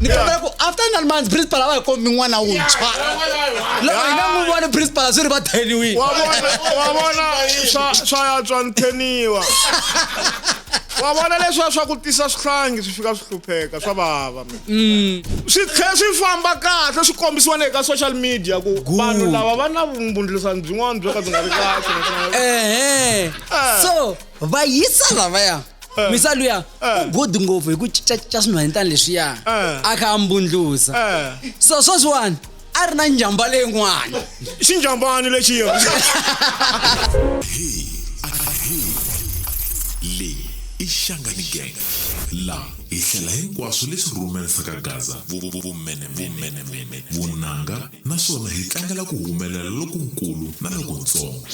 ni kombela ku after nine months principal a va hi kombi n'wana wuntshwa loko hi nga n'wi voni principal a swi ri va theniwini wa vona wa vona swa swa ya tswa ni theniwa wa vona leswiya swa ku tisa swihlangi swi fika swi hlupheka swa vava mm. swi tlhe swi famba kahle swi kombisiwa na eka social media ku vanhu lava va na vumbundlisani byin'wana byo ka byi nga ri kahle so va yisa lavaya Eh. misa luya eh. u good ngopfu hi ku cincacinca swinhwanyetana leswiya eh. a kha a mbundlusa so sweswiwani a ri na njhamba leyin'wana xinjhambani lexiya leyi i xangani gang laha hi hlela hinkwaswo leswi rhumelisaka gaza vumenemene vunanga naswona hi tlangela ku humelela lokunkulu na lokuntsongo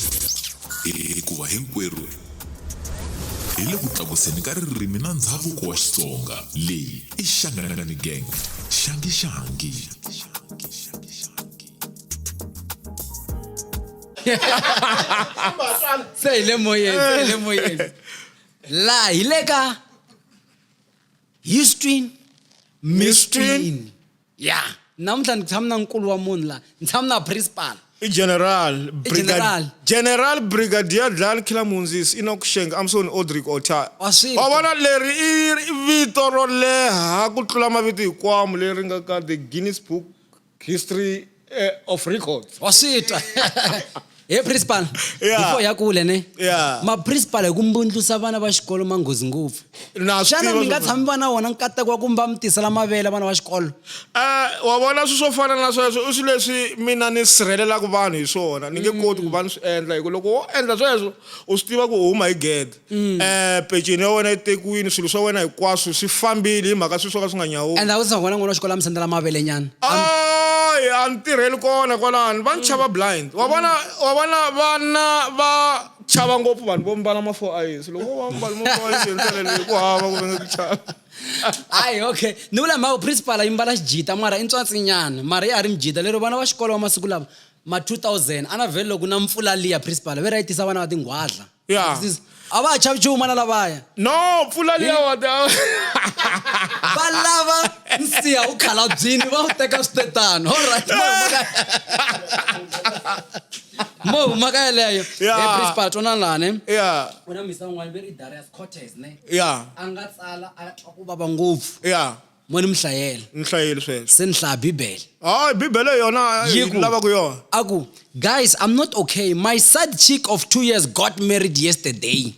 hikuva hinkwerhu hi le ku tlakuseni ka ririmi na ndhavuko wa xitsonga leyi i xanganangani gang xangi xangi se hi le moyeni se hi le moyeni laha hi le ka houston mistrin ya namuntlha ni tshama na nkulu wa munhu laha ni tshama na principal i general general. general brigadier dlal killer munzis enoch sheng amson odrick ota Wa swi wa vona leri i i vito ro leha ku tlula mavito hikwamo leri nga ka the guinness book history eh, of records wa swi twa he principal Yeah. before ya kule ne Yeah. maprincipal hi ku mbundlusa vana va xikolo manghozi ngopfu Na swi xana tiva mi nga swo- tshami va na wona nkateko wa ku mba mi tisela mavele vana va xikolo Eh, wa vona swilo swo fana na sweswo i swilo leswi mina ni sirhelelaka vanhu hi swona ni nge koti ku va ni swi endla hikuva loko wo endla sweswo u swi tiva ku u huma hi gede Eh, peceni ya wena yi tekiwini swilo swa wena hinkwaswo swi fambile hi mhaka swilo swo ka swi nga nyawuli and a ku se nghona n'wana wa xikolo a mi sendela mavele nyana Ay, a ni tirheli kona kwalani va ni chava blind wa vona wa vona vana va chava ngopfu vanhu vo mbala ma four eyes loko wo va mbala ma four eyes hi ndlela leyi ku hava ku venge ku chava hayi okay ni vula mhaka principal yi mbala xijita mara i ntswatsinyana mara ya ha ri mijita lero vana va xikolo va masiku lava ma 2000 a na vhele loko na mpfula liya principal ve ra yi tisa vana va tinghwadla ya Sis- a va ha chavi chuma na lavaya no pfula liya wa ta va lava nsiha wu khalabyini va wu teka switetano allright mo huma ka- mo huma ka yeleyo Yeah. Hey, principal twanana laha ne ya ku na misa un'wana ve ri darius cortes ne ya a nga tsala a twa ku vava ngopfu ya mo ni mi hlayela ni hlayeli sweswo se ni hlaya bibele hayi bibele yona Yi ku- lava ku yona a ku guys i'm not okay my side chick of two years got married yesterday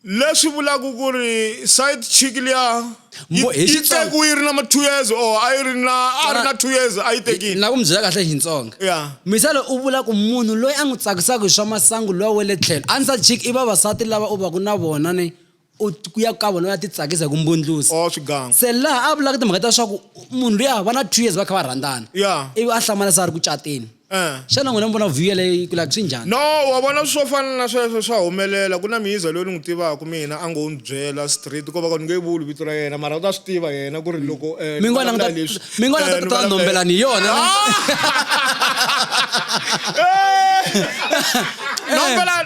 leswi vulaka ku ri side chick liya yi Mo- hi yi Xitsonga- tekiwe yi ri na ma two years or a yi ri na a ri na two years a yi tekile na ku mi byela kahle hi xitsonga ya misele u vula ku munhu loyi a n'wi tsakisaka hi swa masangu lowa wa le tlhelo answer chick i vavasati lava u va ku na vona ni u ku ya ka vona u ya ti tsakisa hi ku mbundlusa o swigangu se laha a vulaka timhaka ta leswaku munhu luya va na two years va kha va rhandzana Yeah. ivi a hlamala se a ri ku cateni Eh. xana n'wina mi vona view leyi ku like swi njhani no wa vona swo fana na sweswo swa humelela ku na miyiza loyi ni n'wi tivaka mina a ngo ni byela street ko va ka ni nge vuli vito ra yena mara u ta swi tiva yena ku ri loko eh, mi ni ngwana vulavula leswi, mi ngwana eh, ta ni ta vulavula- nombela ni yona Ah! Eh! Nombela-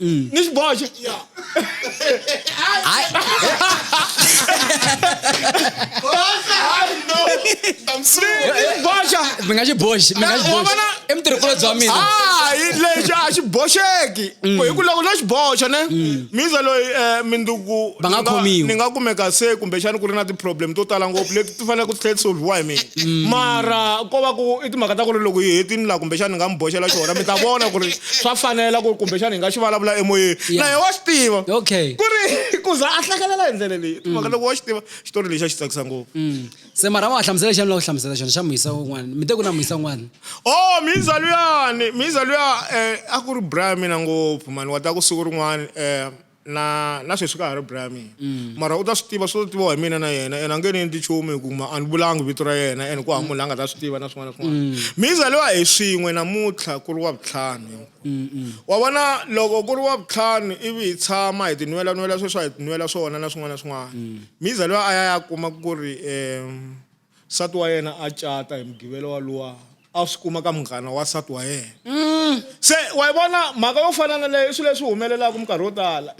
Mm. ni xiboho xa Hayi. boxa mi nga xi boxi mi nga xi boxi i mutirhikulobye bya mina hayi lexi a xi boxeki mm. ku hi ku loko no xi boxa ne mm. miza loyi um minduku Va nga khomiwi. ni nga kumeka se kumbexani ku ri na ti-problem to tala ngopfu leti ti fanele ku tlhela ti solve-iwa hi mina mm. mara ko va ku i timhaka ta ku ri loko hi hetini laha kumbexana ni nga mi boxela xona mi ta vona ku ri swa fanela ku ri kumbexana hi nga xi vulavula emoyeni na ye wa swi tiva ku ri ku za a hlakalela hi ndlela leyi timhaka loko wa xi tiva xitori lexi a xi tsakisa ngopfu mm. se mara wa hlamusela xana la ku hlamusela xona xa muyisa un'wana mi te ku na muyisa un'wana o oh, mhiza luyani mhiza luya um eh, a ku ri brian mina ngopfu mani wa ta ku siku rin'wana um eh, Na, na sweswi ka ha ri Brian mina. Mm. Mara u ta swi tiva, swi to tiviwa hi mina na yena, ene a nge ni endli nchumu hi ku ma a ni vulangi vito ra yena, ene ku hava munhu la nga ta swi tiva na swin'wana na swin'wana. Mm. Mi zaliwa hi swin'we namuntlha ku ri Wavuntlhanu hinkw-. Mm-mm. Wa vona, loko ku ri Wavuntlhanu ivi hi tshama hi tinwela-nwela sweswi a hi tinwela swona na swin'wana na swin'wana, Mm. mi zaliwa a ya ya kuma ku ri, um, Nsati wa yena a cata hi Mugivela waluwa a swi kuma ka munghana wa nsati wa yena. Se wa yi vona mhaka yo fana na leyo i swilo leswi humelelaka minkarhi yo tala.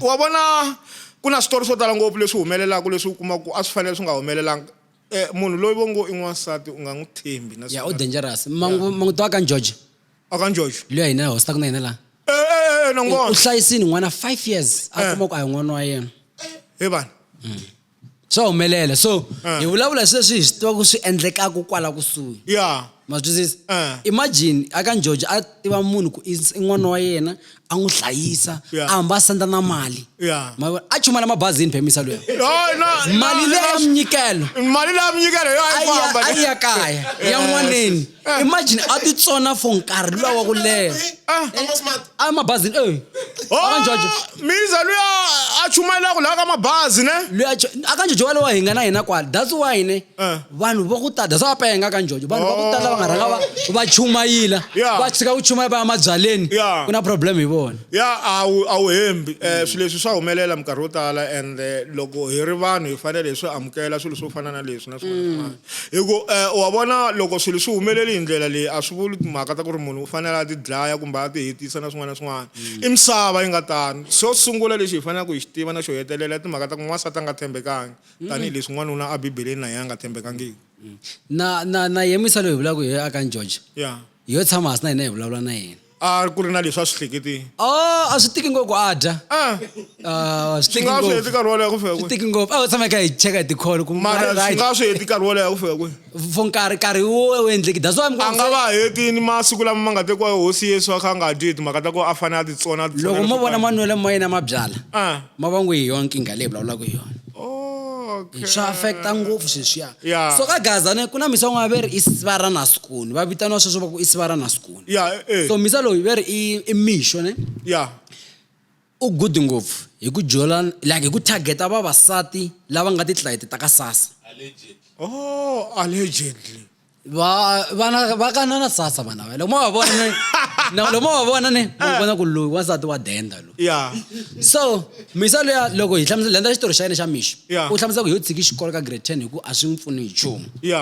Wa vona ku na switori swo tala ngopfu leswi humelelaka leswi u kumaka ku a swi fanele swi nga humelelanga. Munhu loyi va ngo i n'wansati u nga n'wi tshembi na siku na rin'we. Ya u dangerous. Ma n'wi ma n'wi tiva ka Njojo? A ka Njojo? Loyi a hina hi hostaka na yena laha. Na n'wi vona. U hlayisile n'wana five years a kuma ku a hi n'wana wa yena. He vana. swa humelela so eh. hi vulavula hi sweswi hi swi tiva ku swi endlekaka kwala kusuhi ya ma twisisa eh. imagine aka njojo a tiva munhu ku i n'wana wa yena a n'wi hlayisa a hamba a senda na mali a chumela mabazini phemisa loyo mali leya mnyikelo mali leya mnyikelo yo a yi famba a yi ya kaya ya n'waneni ah. imagine a ti tsona for nkarhi luwa wa ku leha ah. a mabazini e eh. akanjojo oh, miza luya a chumayela ku laha ka mabazi ne luya akanjojo wa lowa hi nga na hina kwala that's why ne eh. vanhu va ku tala that's why va penga akanjojo vanhu va ku tala va nga rhanga va va chumayila va tshika ku chumaya va ya mabyaleni ku na problem hi vona ya a wu hembi um swilo leswi swa humelela minkarhi yo tala and loko hi ri vanhu hi fanele hi swi amukela swilo swo fana na leswi na swin'wana mm. Hi ku um wa vona loko swilo swi humeleli hi ndlela leyi a swi vuli timhaka ta ku ri munhu u fanele a ti dlaya kumbe a ti hetisa na swin'wana na swin'wana i misava yi nga tano xo sungula lexi hi faneleke hi xi tiva na xo hetelela timhaka ta ku n'wansati a nga tshembekangi tanihileswi n'wanuna a bibeleni na yena a nga tshembekangiki na na na yemisa loyi hi vulaka hi aka george ya hi yo tshama hasi na hina hi vulavula na yena a ku ri na leswi a swi hleketini a a swi tiki ngopfu a dya a a swi swi tiki nga swi heti ngopfu nkarhi wo leha ku fika swi kwihi tiki ngopfu a u tshama hi kha hi cheka hi tikholo ku mara swi right nga swi heti nkarhi wo leha ku fika kwihi for nkarhi nkarhi wo wu endleki that's why I'm a nga going va hetini masiku lama ma nga tekiwa hi hosi yesu a kha a nga dyi hi timhaka ta ku a fanele a titsona a titsona loko mo leswo vona karhi. manwelo ma yena ma byala Ah. ma va n'wi hi yona nkingha leyi vulavulaka hi yona okay. swa affecta ngopfu sweswiya yeah. so ka gazane ku na misa un'wana ve ri i siva ra nasikoni va vitaniwa sweswo va ku i siva ra nasikoni yeah, eh, eh. so misa loyi ve ri i, i mixo ne yeah. u good ngopfu hi ku jola like hi ku targeta vavasati lava nga titlayiti ta ka sasa oh allegedly va vana va kanana sasa vana va loko mo va vona ne na loko mo va vona ne mo vona ku loyi wansati wa denda lo ya so misa luya loko hi hlamusela lenda xitori xa yena xa mixo Yeah. u hlamusela ku hi yo tshiki xikolo ka grade ten hi ku a swi n'wi pfuni hi nchumu ya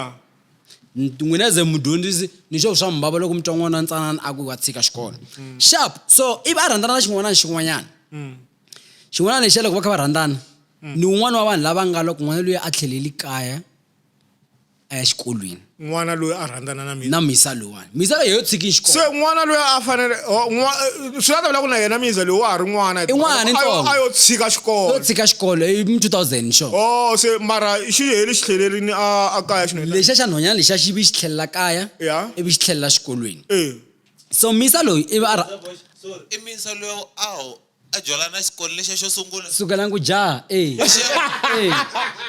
n'wina ze mudyondzisi ni xo swa mubava loko mi twa n'wana ntsanana a ku wa tshika xikolo sharp so ivi a rhandzana na xin'wana na xin'wanyana xin'wana lexiya loko va kha va rhandzana ni un'wana wa vanhu lava nga loko n'wana luya a tlheleli kaya a ya xikolweni n'wana loyi a rhandzana na mina na misa loyiwani misa leyi yo tshiki xikolo se n'wana loyi a fanele oh, eh, swi nga ta vula ku na yena misa loyi wa ha ri n'wana i n'wana ntsongo a yo tshika xikolo yo tshika xikolo i 2000 xo o se mara xi heli xi tlhelerini a a kaya xi lexa xa nhonyana lexa xi vi xi tlhelela kaya ivi xi tlhelela xikolweni e so misa loyi ivi a i misa loyi a a dyolana na xikolo lexiya xo sungula sukelani ku jaha e lexiya e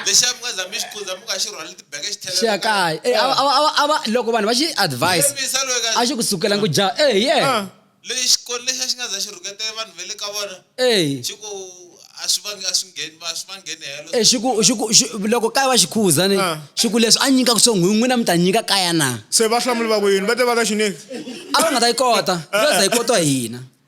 lexiya mi nga za mi xi kundza mi nga xi rhwali tibeke xi tlhelela xiya kaya e a va- a va- a va- a va loko vanhu va xi advise Xemisa loyi ka- a xi ku sukelani ku jaha e ye leyi xikolo lexiya xi nga za xi rhuketele vanhu va le ka vona e xi ku a swi vangi a swi ngheni va swi va ngheni helo e xi ku xi ku xi- loko kaya va xi khuza ni Ah. xi ku leswi a nyikaka swona n'wi n'wina mi ta nyika kaya na se va hlamuli va ku yini va te va ka xineki a va nga ta yi kota va ta yi kota hina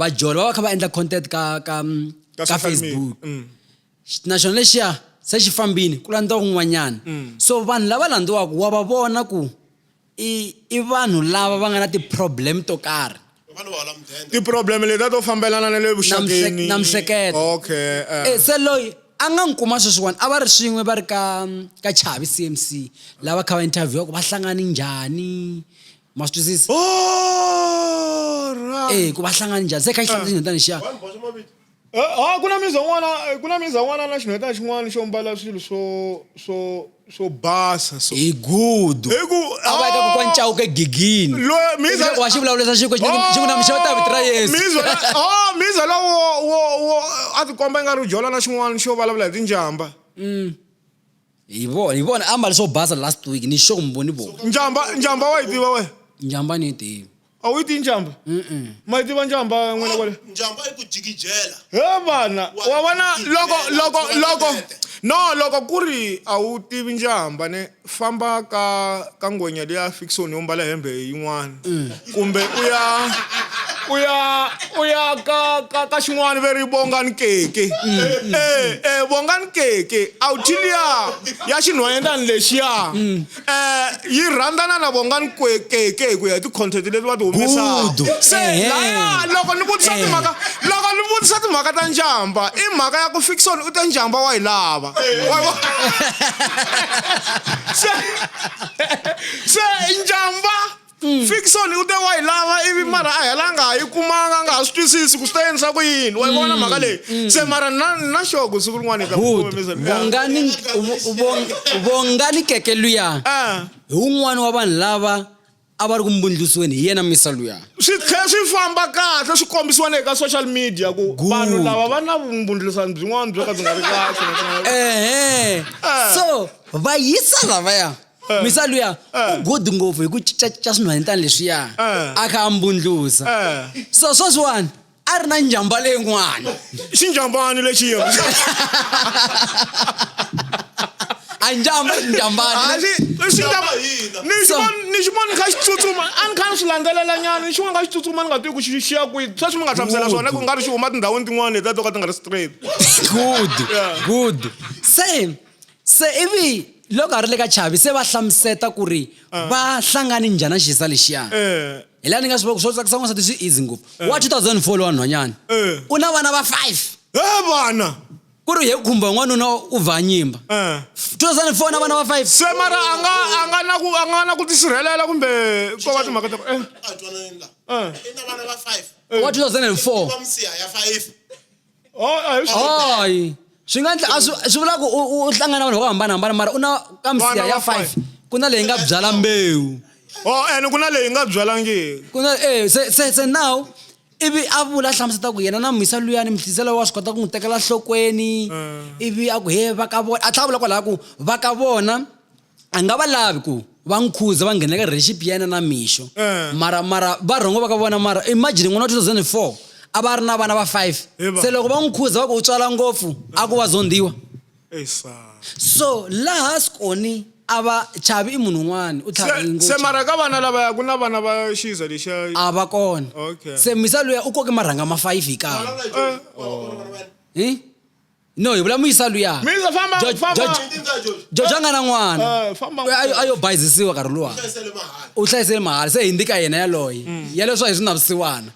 vajoli va va kha va endla content ka ka ka, ka facebook mm. na xona lexiya se xi fambini ku landza kun'wanyana mm. so vanhu lava landziwaka wa va vona ku i i vanhu lava va nga na ti-problem to karhi ti-problem letiya to fambelana na le vuxakeni na mihleketo okay uh. e, se loyi a nga n'wi kuma sweswiwani a va ri swin'we va ri ka ka chavi cmc lava kha va interview ku va hlangani njhani ma swi twisisa e ku va hlangana njhani se kha yi hlangana xinhwetana xiya eh, ah, ku na miza n'wana eh, ku na miza n'wana na xinhwetana xin'wana xo mbala swilo swo swo swo basa so hi gudu hi ku a va eka kokwa ncawuka egigini wa xi vulavulisa xiku xi ku na mixava ta vito ra yesu miza oh, lowo wo wo a tikomba i nga ri u jola na xin'wana xo vulavula hi tinjhamba mm. hi vona hi vona ambale swo basa last week ni xo kumbo ni vona njhamba njhamba wa yi tiva we njhamba ni yi tivi a wu yi tivi njhamba ma yi tiva njhamba n'wina kwale njhamba yi ku jikijela he vana wa vona loko loko loko no loko ku ri a wu tivi njhamba ne famba ka ka ngwenya leyi a fikisiwa ni yo mbala hembe yin'wana kumbe u ya u ya u ya ka ka ka xin'wana ve ri vongani keke e e vongani keke a wu thi liya ya xinhwanyetani lexiya um yi rhandzana na vongani kwe keke hi ku ya hi ti-content leti va ti humesaka Good. se Ehe. laya loko ni vutisa Eh. timhaka loko ni vutisa timhaka ta njhamba i mhaka ya ku fikisoni u te njhamba wa yi lava se se njamba fiction u te wa yi lava ivi mara a hela nga ha yi kumanga a nga ha swi twisisi ku swi ta endlisa ku yini wa yi vona mm. mhaka leyi mm. se mara na na xogo siku rin'wana hi ta vongani vongani keke luya ah. hi wun'wani wa vanhu lava a va ri ku mbundlusweni hi yena misa luya swi tlhe swi famba kahle swi kombisiwa le ka social media ku Good. vanhu lava va na vumbundlusani byin'wana byo ka byi nga ri kahle naswona- ehe Eh. so va yisa lavaya Eh. misa luya Eh. u good ngopfu hi ku cincacinca swinhwanyetana leswiya Eh. a kha a mbundlusa Eh. so sweswiwani a ri na njhamba leyin'wana xinjhambani lexiya a njhamba njhambani Ah, xi- xi- Njhamba hina. ni xi So- vona- ni xi vona ni kha xi tsutsuma a ni kha ni swi landzelela nyana ni xi vona kha xi tsutsuma ni nga tivi ku xi xiya kwihi sweswi mi nga hlamusela swona ku nga ri xi huma tindhawini tin'wana leti a to ka ti nga ri straight good Yeah. good se se ivi loko a ri le ka chavi se va hlamuseta ku ri va hlangane njhani na xisa lexiyani Eh, hi laha ni nga swi vaka swo tsakisa n'wansati swi easy ngopfu eh. wa 2004 lowa nhwanyana eh. u na vana va five e vana ku ri hi khumba n'wanuna u vha nyimba 2004 na vana va five se mara a nga a nga na ku a nga na ku tisirhelela kumbe ko va timhaka ta wa 2004 Oh, a hi swi koti. hayi swi nga ndla- a swi swi vula ku u- u u hlangana vanhu vo hambanahambana mara u na ka misiha Vana ya va five five. ku na leyi nga byala mbewu Oh, ene ku na leyi nga byalangiki ku na eh se se se now ivi a vula hlamuseta ku yena na mhisa luyani mihlisela wa swi kota ku n'wi tekela nhlokweni ivi a ku he va ka vona a tlhela a vula kwalaho ku va ka vona a nga va lavi ku va n'wi khuza va nghena ka relationship ya yena na mixo Eh. mara mara va rhongo va ka vona mara imagine n'wana wa 2004 a va a ri na vana va five Hi va. se loko va n'wi khuza va ku u tswala ngopfu a ku wa zondiwa Ey, sa. so laha skoni a va chavi i munhu un'wana u tlhavi Se- se ngopfu mara ka vana lavaya ku na vana va xiza lexiya a va kona Okay. se misa luya u koke marhanga ma five hi kan'we Eh, oh. Eh? no hi vula muyisa luya Muyisa, famba, Jo- famba. Jo- Ndi ndza Jojo. jojo a nga na n'wana Eh, famba u- a yo- a yo bayizisiwa nkarhi luwa Hlayisele mahala. u hlayisele mahala se hi ndi ka yena yaloye Mm. ya leswa hi swi navisiwana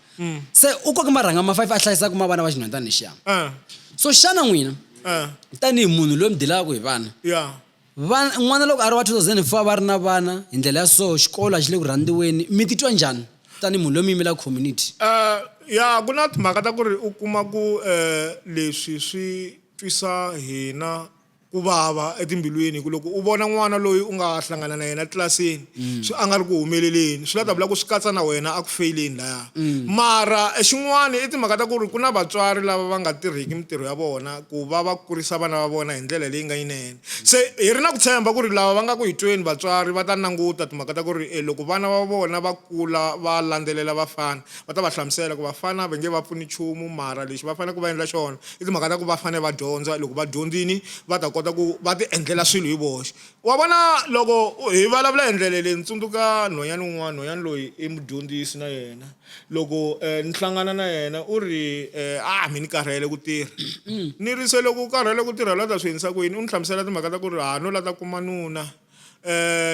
se u koke marhanga ma five a hlayisaka ma vana va xinhwantani xiya Eh, so xana n'wina eh, tanihi munhu loyi mi dilaka hi vana ya Vana, N'wana loko a ri wa 2004 va ri na vana hi ndlela ya so, xikolo a xi le ku rhandziweni, mi titwa njhani tanihi munhu loyi mi yimelaka community? Uh, ya ku na timhaka ta ku ri u kuma ku uh, leswi swi twisa hina ku vava etimbilwini, ku loko u vona n'wana loyi u nga hlangana na yena tlilasini Mm. swi a nga ri ku humeleleni swi la ta vula ku swi katsa na wena a ku feyileni laya mm. mara e xin'wana i timhaka ta ku ri ku na vatswari lava va nga tirhiki mintirho ya vona ku va va kurisa vana va vona hi ndlela leyi nga yinene se hi ri na ku tshemba ku ri lava va nga ku hi tweni vatswari va ta languta timhaka ta ku ri e loko vana va vona va kula va landzelela vafana va ta va hlamusela ku vafana va nge va pfuni nchumu mara lexi va fanele ku va endla xona i timhaka ta ku va fanele va dyondza loko va dyondzini va ta kota ku va ti endlela swilo hi voxe Wa vona, loko hi vulavula hi ndlela leyi, ni tsundzuka nhwanyana un'wana, nhwanyana loyi i mudyondzisi na yena. Loko ni hlangana na yena u ri, A mi ni karhele ku tirha. Ni ri, Se loko u karhele ku tirha la ta swi endlisa ku yini? U ni hlamusela timhaka ta ku ri ha no la ta kuma nuna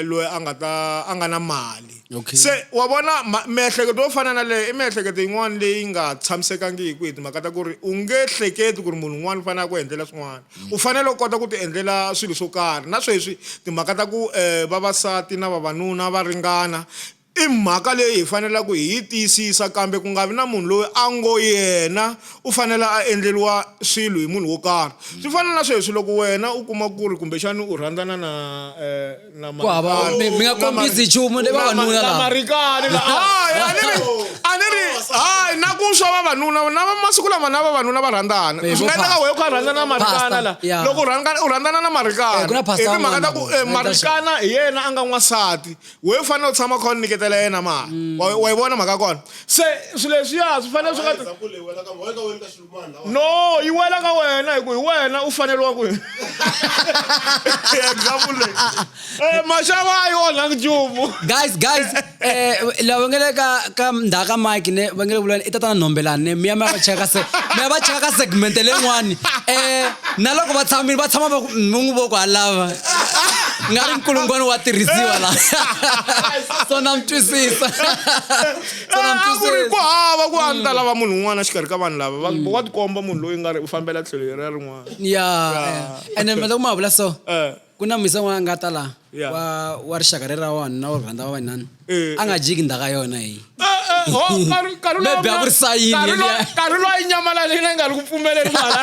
loyi a nga ta a nga na mali. Se wa vona, miehleketo yo fana na leyo i miehleketo yin'wana leyi nga tshamisekangiki hi timhaka ta ku ri u nge hleketi ku ri munhu un'wana u fanele a ku endlela swin'wana. U fanele u kota ku tiendlela swilo swo karhi. Na sweswi, timhaka ta ku vavasati na vavanuna va ringana i mhaka leyi hi faneleke hi yi tiyisisa, kambe ku nga vi na munhu loyi a ngo yena u fanele a endleriwa swilo hi munhu wo karhi. Swi fana na sweswi, loko wena u kuma ku ri kumbexana u rhandzana na. Ku hava mi mi nga kombisi nchumu ni vavanuna lava. marikani la hayi a ni ri a ni ri hayi na ku swa vavanuna na va- masiku lama na vavanuna va rhandzana Eh, swi nga vo endleka pha- wehe ku a rhandzana na marikana Pastor, la yeah. loko u rhandzana u rhandzana na marikana Eh, ku na pastor hi timhaka ta ku un'wana eh, la- marikana hi yena a nga n'wansati wehe u fanele u tshama kha u nyiketela yena mali wa wa yi vona mhaka ya kona se swilo leswiya swi fanele swi nga no yi wela ka wena hi ku hi wena u faneriwa ku example leyi eh, maxava a yi onhangi nchumu guys guys eh la va ngele ka ka ndhawu ka mike ne va ngele vulani i tatana nhombelani ne miya mi ya va cheka se mi ya va cheka ka segmente leyin'wani eh na loko va tshamile va tshama va ku mi n'wi voko halava nga ri nkulungwani wa tirhisiwa la so na mi twisisa Ah, ku ri ku hava ku a ni ta lava munhu un'wana xikarhi ka vanhu lava va- wa tikomba munhu loyi nga ri u fambela tlhelo leriya rin'wana ya eh. ene mata ku ma vula so Eh. ku na misa n'wana a nga ta laha Ya. wa wa rixaka rera vanhu na wa rhanda wa vanhani Eh, a nga jiki ndhaka yona hi Eh, eh, ho, Karu- Karula- Maybe a ku ri sayini Karula- yeliya. Karula yi nyamalale yina yi nga ri ku pfumeleli ku hala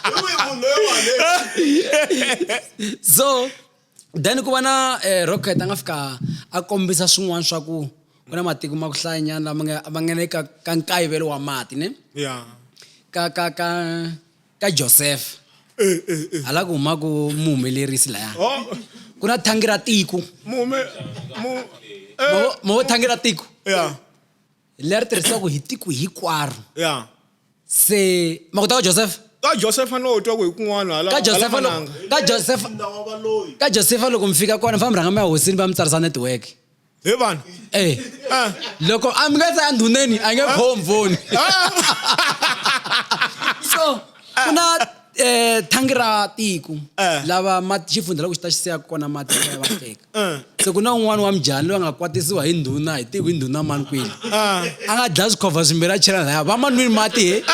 Hi wihi munhu loyi wa le- so then ku va na eh, rocket a nga fika a kombisa swin'wana swa ku ku na matiko ma ku hlayanyana lama nga ma nga le ka ka nkayivelo wa mati ne ya ka ka ka ka joseph eh eh eh hala ku huma ku muhumelerisi laya oh ku na thangi ra tiko mume mu eh mo mo thangi ra tiko ya leri tirhisiwaka hi tiko hikwaro ya se ma kota ka josefa ka josefa no twa ku hi kun'wana hala ka hala josefa loko mananga ka josefa Ndla wa valoyi. ka josefa loko mi fika kona mi famba rhanga mi ya hosini va mi tsarisa network hi vanhu eh Ah. loko a mi nga se ya ndhuneni a nge khomvoni Ah. so ku na eh thangi ra tiko eh. lava xifundza loko xi ta xiseka kona mati ya va teka eh. se ku na un'wana wa mjani loyi a nga kwatisiwa hi ndhuna hi tivi hi ndhuna mani kwini eh. a nga dlaya swikhova swimbirhi a chela laya va manwini mati he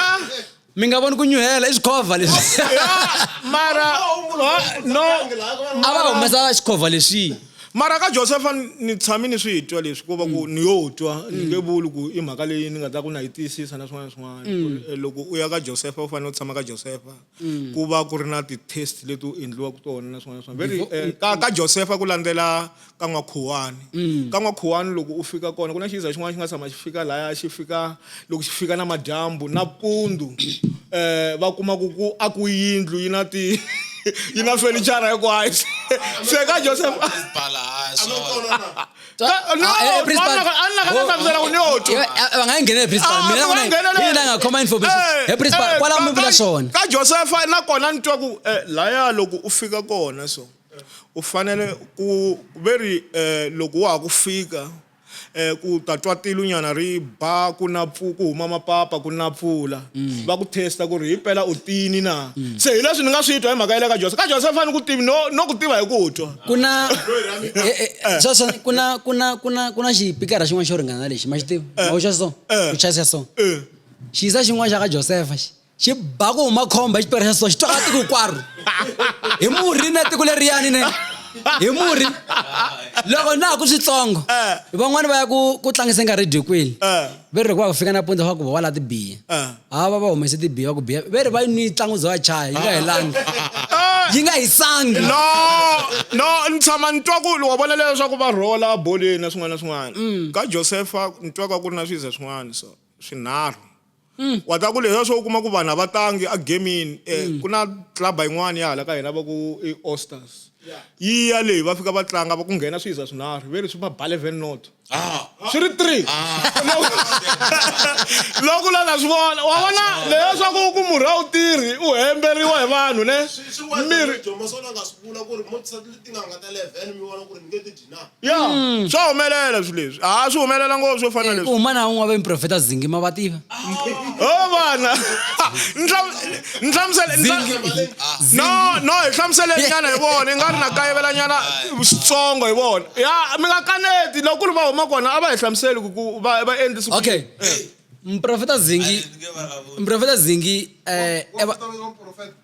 mi nga voni ku nyuhela i swikhova leswi mara no a va humesa xikhova leswiyi Mara ka Josefa ni tshame ni swi twa leswi ko va ku ni yo twa ni nge vuli ku i mhaka leyi ni nga ta ku na yi tiyisisa na swin'wana na swin'wana ku ri loko u ya ka Josefa u fanele u tshama ka Josefa ku va ku ri na ti-test leti u endliwaka tona na swin'wana na swin'wana very eh, ka ka Josefa ku landzela ka n'wakhuwani ka n'wakhuwani loko u fika kona ku na xiza xin'wana xi nga tshama xi fika laya xi fika loko xi fika na madyambu na pundhu um eh, va kuma ku ku a ku yindlu yi na ti yi na fenichara hinkwayo se ka joseph ka josefa nakona ni twa ku eh, laya loko u fika kona so u fanele ku ve ri um loko wa ha ku fika ku ta twa tilu nyana ri ba ku na pfu ku huma mapapa ku na pfula mm. va ku testa ku ri hi pela u tini na mm. se hi leswi ni nga swi twa hi mhaka yele ka josefa ka josefa fane ku tivi no no ku tiva hi ku twa ku na sweswo eh, eh, eh, ku na ku na ku na ku na xipikara xin'wana xo ringana lexi ma xi tivi ma ku xa so ku chayisa so xiyisa xin'wana xa ka josefa xi xi ba ku huma khomba hi xiperesa so xi twaka tiko hinkwaro hi murhi na tiko leriyani ne hi murhi loko na ha ku switsongo eh. van'wani va ya ku ku tlangisa nga redikwini eh. ve ri ku va ku fika napunza va ku va wa laha tibiya eh. ha va va humese tibiya va ku biya ve ri va yi nwi ntlangu bya vachaya yi nga helangi yi nga hisangi no no ni tshama ni twa ku wa vona leswaku va rhola boleni na swin'wana na swin'wana mm. ka josefa ni twaka ku ri na swiza swin'wana so swinharhu mm. wa ta ku leswa swo u kuma ku vanhu a va tangi a gamini um eh, mm. ku na clubba yin'wana ya hala ka hina va ku i osters yi ya leyi va fika va tlanga va ku nghena swi yiza swinharhu ve leswi va bale ven not ah. swi ri three ah. loko la na swi vona wa vona leyo swa ku ku murhi a wu tirhi u hemberiwa hi vanhu ne mirhi ya hmm. swa humelela swi leswi ha swi humelela ngopfu swo fana leswi uma na un'we va miprofeta zingi ma va tiva o oh, vana ni hlamusele no no hi hlamuselenyana hi vona i nga ri na kayivelanyana switsongo hi vona ya mi nga kaneti loko ku ri va huma kona a va hi hlamuseli ku va va endlisi okay mprofeta zingi mprofeta zingi um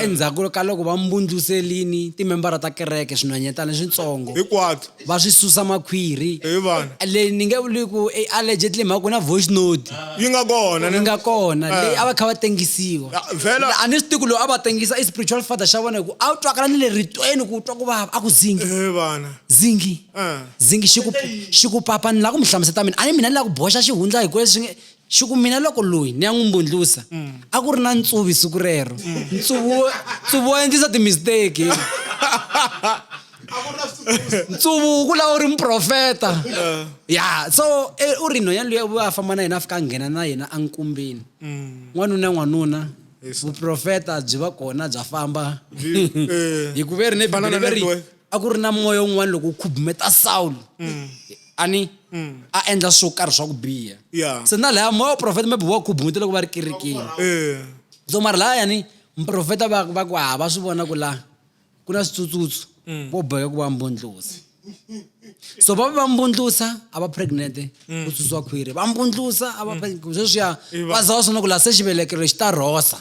Endzhaku ka loko va mbundluserini timembara ta kereke swinhwanyetana switsongo hikwatso va swi susa makhwiri hi vana leyi ni nge vuli ku i allegedly mhaka ku na voice note yi nga kona yi ne nga kona Eh. leyi a va kha va tengisiwa Ya, vhela a ni swi tivi ku loyi a va tengisa i spiritual father xa vona hi ku a wu twakala ni le ritweni ku u twa ku vava a ku zingi hi vana zingi Eh. zingi xi ku xi ku papa ni la ku mi hlamuseta mina a ni mina ni la ku boxa xihundla hi ku leswi nge Xi ku, Mina loko loyi ni ya n'wi mbundlusa, a ku ri na ntsuvi siku rero. Ntsuvi wo, ntsuvi wa endlisa timisteki. ntsuvu wu kula wu ri muprofeta. Ya, so e, u ri nhwanyana luya u a famba na yena a fika a nghena na yena enkumbini. N'wanuna n'wanuna, vuprofeta byi va kona bya famba. Hi ku ve ri ne Bibele ve ri. a ku ri na moya wun'wana loko wu khubumeta sawulo mm. a ni mm. a endla swo karhi swa ku biha se na laya moya wa profeta maybe wa khubumete loko va ri kerekeni eh. so mara laya ni muprofeta va va ku hava swi vona ku laha ku na switsutsutsu mm. vo boheka ku va mbundlusa so va va mbundlusa a va pregnante ku tsutswa khwiri va mbundlusa a va sweswiya va za wa swona ku laha se xivelekelo xi ta rhosa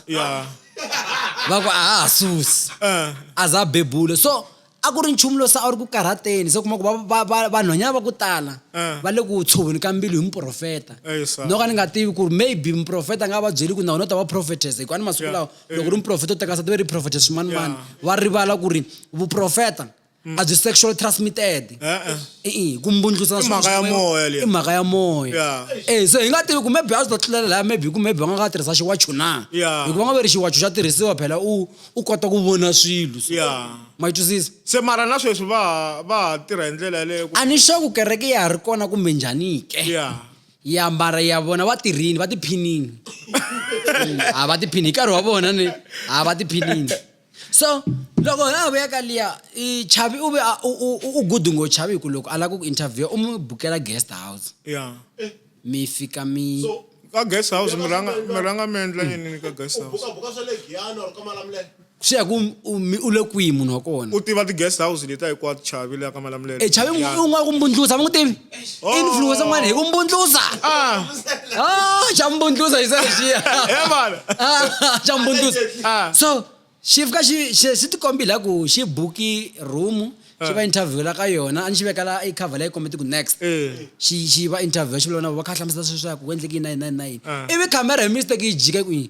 va ku a ha ha susi eh. a za bebula so a ku ri nchumu lowu se a wu ri ku karhateni se kuma ku vanhwanyana va ku tala eh. va le ku tshoveni ka mbilu hi muprofeta eh, no ka ni nga tivi ku ri maybe muprofeta a nga va byeli ku na wena u ta va profetesa hikuva ni masiku lawa loko ri muprofeta u teka sati ve ri profetesa swin'wanimani va rivala ku ri vuprofeta a byi sexual transmitted E-e. i-i ku mbundlusa I mhaka ya moya leyi. i mhaka ya moya Yeah. Eh, so hi nga tivi ku maybe a swi ta tlulela laya maybe ku maybe va nga ka tirhisa xiwachu na Yeah. hikuva nga ve ri xiwachu xa tirhisiwa phela u u kota ku vona swilo so- Yeah. ma yi twisisa se mara na sweswi va ha- va ha tirha hi ndlela yaleyo ku- a ni sure ku kereke ya ha ri kona kumbe njhani ke ya ya mbara ya vona va tirhini va tiphinini Mm, a va tiphini hi nkarhi wa vona ni a va tiphinini so loko ha ha vuya ka liya chavi u ve u good ngo chavi hi ku loko a lava ku interviewa u mi bukela guest house ya mi fika mi ka guest house mi rhanga mi rhanga mi endla yini ka guest house swi ya ku u le kwihi munhu wa kona u tiva ti-guest house letiya hinkwato chavi leya ka malamulelo e chavi u nga ku mbundlusa va n'wi tivi influencer oh. mane ikumbundluza ah. ah chambundluza isashiya yabona ah, chambundluza ah. so xifika xi xi tikombile la ku xi buki room xi va interview la ka yona a ni xi veka la i cover la yi kombete ku next eh. xi xi va interview xi vula na va kha hlamusela sweswi ya ku ku endleke yini na yini na yini na yini ivi camera hi mistake yi jike kwini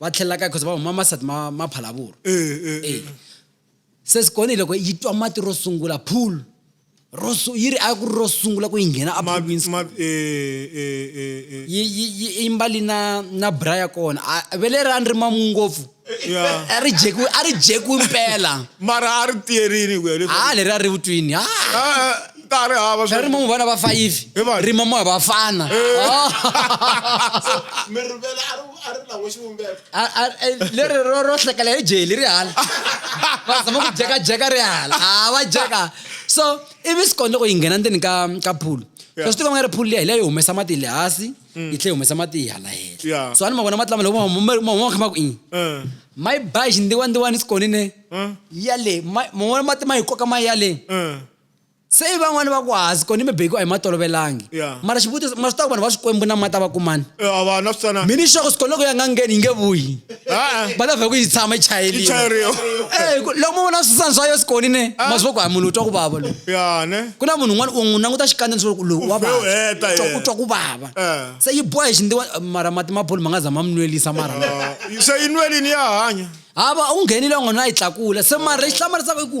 va tlhelela kaya cause va huma masati ma ma phalavuru e se sikoni loko yi twa mati ro sungula pool ro yi ri a ku ri ro sungula ku yi nghena apoolwini yi yi yi mbali na na bra ya kona ve le ra ni ri mamu ngopfu a ri jekiwi a ri jekiwi mpela mara a ri tiyerini ku ya leswi a leri a ri vutwini ha ta ha ri hava swa- rima mu vana va fayivi Hi vanhu. rima mu hava vafana mi rivele a ri a ri lan'we xivumbeko A- a- e, leri ro ro hlekela hi jeli ri hala va zama ku jekajeka ri hala a va jeka so ivi sikoni loko yi nghena ndzeni ka ka phulu Yeah. swa swi tiva nga ri phulu liya hi leyo yi humesa mati le hansi yi tlhe yi humesa mati hi hala hela Yeah. so a ni ma vona mati lama loko ma huma- ma huma kha ma ku i Eh, ma yi ba hi xindiwandiwani sikonine eh, ya le ma ma vona mati ma yi koka ma ya le eh. se i van'wani va ku hazi kona mibeki a hi ma tolovelangi Yeah. mara xivutiso ma swi tiva ku vanhu va swikwembu na mati a va kumani Eh, a va na switsana mini xoko swikoloko ya nga ngheni yi nge vuyi Ah, ah. va ta vhe ku yi tshama yi yi chayeliwa chayeriwa Eh, ku- loko mo vona swisana swa yo sikoni ne ma swi va ku hayi munhu u twa ku vava lowu ya ne ku na munhu un'wana u n'wi languta xikandza ni swi ku lowu wa Ufhe u heta vava yena. u twa ku vava Eh. se yi boha hi xindiwa mara mati ma boli ma nga za ma mi nwelisa mara Ah, se yi nwelini ya hanya hava u nghenile u nga na yi tlakula se mara lexi hlamarisaka i ku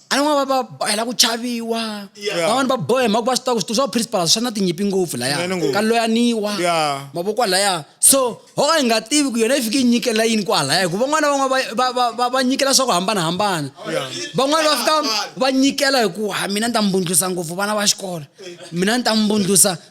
an'wana va va hela ku chaviwa van'wana va bohe mhaka va swi tiva ku switu swa principal swi na tinyimpi ngopfu laya ka loyaniwa mavoko laya so ho ka hi nga tivi ku yona yi fike yi nyikela yini kwalaya hikuva van'wana van'wana va nyikela swa ku hambanahambana van'wana va fika va nyikela hi ku ha mina ni ta mbundlusa ngopfu vana va xikolo mina ni ta mbundlusa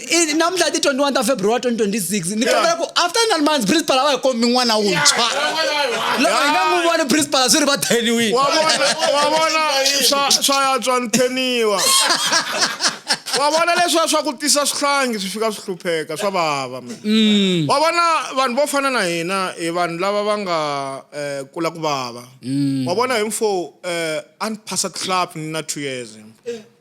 I- namuntlha i ti 21 ta february 2026 ni kombela ku after nine months principal a va hi kombi n'wana wuntshwa loko hi nga n'wi voni principal swi ri va theniwini wa vona wa vona swa swa yatswa ni theniwa wa vona leswiya swa ku tisa swihlangi swi fika swi hlupheka swa vava man. wa vona vanhu vo fana na hina hi vanhu lava va nga eh, kula ku vava wa vona hi mfo eh, a ni phasa club ni na two years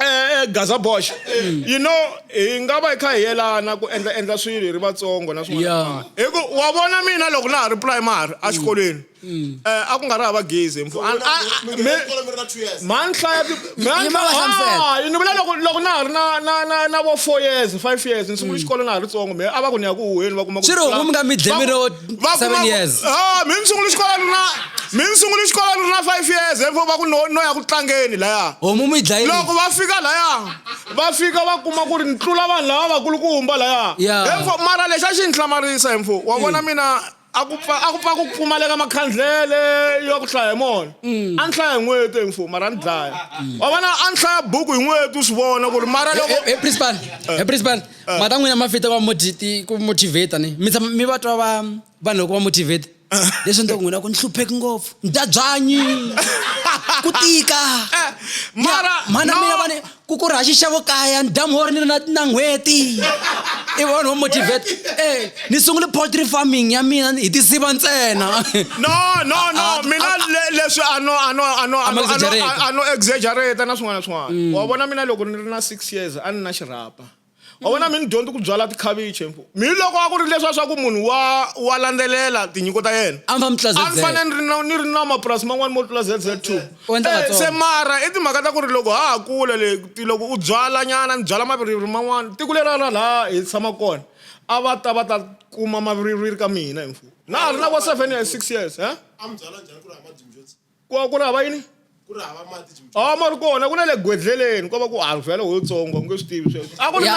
Eh, eh, Gaza Bosch. Mm. You know, hi nga va hi kha hi yelana ku endla endla swilo hi ri vatsongo na swin'wana. Hi ku wa vona mina loko na ha ri primary a mm. xikolweni. Mm. Eh, a ku nga ri hava gezi mfu. Man hlaya man ha ni vula loko loko na ha ri na na na na vo 4 years, 5 years ni sungule xikolo na ha ri tsongo me a va ku ni ya ku huheni va kuma ku. Swi ri hungu mi nga mi dle mi ro va Seven kuma ku- years. Ah, mi ni sungule xikolo ni ri na mi ni sungule xikolo ni ri na five years therefore va ku no no ya ku tlangeni laya homu mi yi dlayile loko va fika laya va fika va kuma ku ri ni tlula vanhu lava vakulukumba laya Yeah. Therefore, mara lexi a xi ni hlamarisa hemfo wa vona mina a ku pfa a ku pfa ku pfumaleka makhandlele yo ku hlaya hi mona a ni hlaya hi n'weti hemfo mara a ni dlaya wa vona a ni hlaya buku hi n'weti u swi vona ku ri mara loko Hey, hey, principal. Hey, principal. ah. mata n'wina ma fita va ku motivata ni mi tshama mi va twa va vanhu loko va motivate ah. leswi ni ta ku n'wina ku ni hlupheki ngopfu ni dya byanyi ku tika eh, mara mana mina vani ku ku rhaxi xavo kaya ni dya mhori ni na na n'hweti i vanhu vo motivate e ni sungule poultry farming ya mina hi tisiva ntsena no no no ah, ah, mina ah, leswi ano ano ano ano ano exaggerate na swin'wana na swin'wana mm. wa vona mina loko ni ri na six years a ni na xirhapa wa vona mi ni dyondzi ku byala tikhavichi mi loko a ku ri leswiya swa ku munhu wa wa landzelela tinyiko ta yena a ni fanele ni ri na ni ri na mapurasi man'wani mo tlula zz two eh, se mara i timhaka ta ku ri loko ha ha kula le loko u byala nyana ni byala maviriviri man'wani tiko leri a ra laha hi tshama kona a va ta va ta kuma maviriviri ka mina hi mfumo na ha ri na vo seven years six years e ku ku ri hava yini ku ri hava mati chimchimi a ma ri kona ku na le gwedleleni ko va ku handzwa yaleho yitsongo nge swi tivi sweswo a ku ri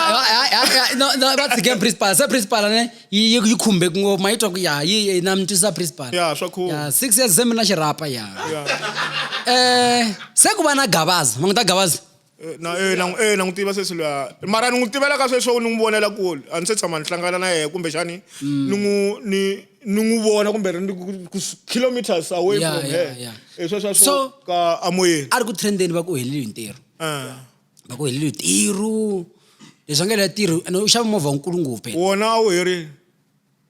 va tshike principal se principal ne yi yi khumbe ngopfu ma yi twa ku ya yi na mi twisisa principal ya swa khumba six years se mi na xirhapa ya um se ku va na gavaza ma n'wi ta gavaza Eh, na eh, na eh na n'wi tiva sweswi luya mara ni n'wi tivela ka sweswo ni n'wi vonela kule a ni se tshama ni hlangana na yena kumbexani ni n'wi ni ni n'wi vona kumbe ri ni ku- ku s- kilometers away Yeah, from yeah, her yeah. Eh, sweswo swo So- ka amoyeni a ri ku trendeni va ku heleliwe hi ntirho Eh. va ku heleliwe hi ntirho leswi va nga helela ntirho ene u xava movha wunkulu ngopfu phela wona a wu herile